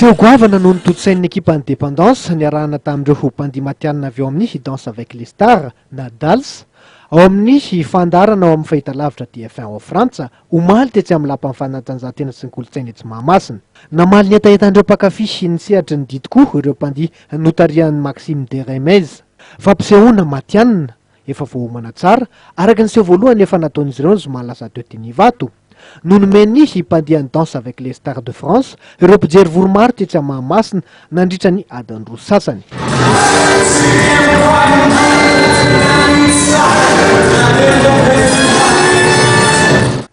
Seho goavana no notontosain'ny ekipan'ny Dependance niarahana tamin'ireo bandy matihanina avy ao amin'ny Danse avec les Stars na Dals ao amin'ny fandaharana ao amin'ny fahitalavitra TF1 ao Frantsa omaly tetsy amin'ny Lapan'ny fanatanjahantena sy ny kolontsaina etsy Mahamasina. Namaly ny hetahetan'ireo mpankafy ny sehatry ny didy koa ireo bandy notarihan'i Maxime Deremez. Fampisehoana matihanina, Efa voaomana tsara, araka ny seho voalohany efa nataon'izy ireo ny zoma lasa teo teny Ivato, no nomeny ny hipandihany Danse avec les Stars de France ireo mpijery vory-maro tetsy amin'ny Mahamasina nandritra ny adiny roa sasany.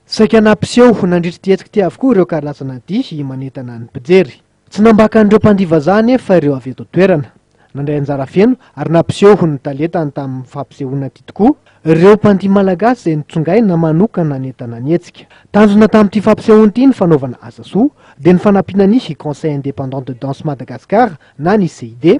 Saika nampiseho nandritra ity hetsika ity avokoa ireo karazana dihy manentana ny mpijery. Tsy nambaka an'ireo mpandihy vazaha anefa ireo avy eto an-toerana. Nandray anjara feno ary nampiseho ho ny talentany tamin'ny fampisehoana ity tokoa ireo mpandihy malagasy izay notsongaina manokana nentina nihetsika. Tanjona tamin'ity fampisehoana ity ny fanaovana asa soa, dia ny fanampiana ny Conseil indépendant de danse Madagascar na ny CID,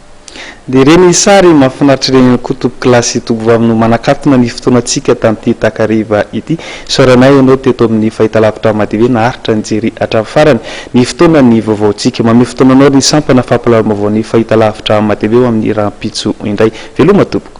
Dia ireny ny sary mahafinaritra ireny ihany koa tompoko lahy sy tompoko vavy no manakatona ny fotoanantsika tamin'ity takariva ity. Isaoranay ianao teto amin'ny fahitalavitra Madi hoe naharitra nijery hatramin'ny farany ny fotoanan'ny vaovaontsika. Mamehy fotoana anao ny sampana fampahalalam-baovaon'ny fahitalavitra Madi ho amin'ny rahampitso indray. Veloma tompoko.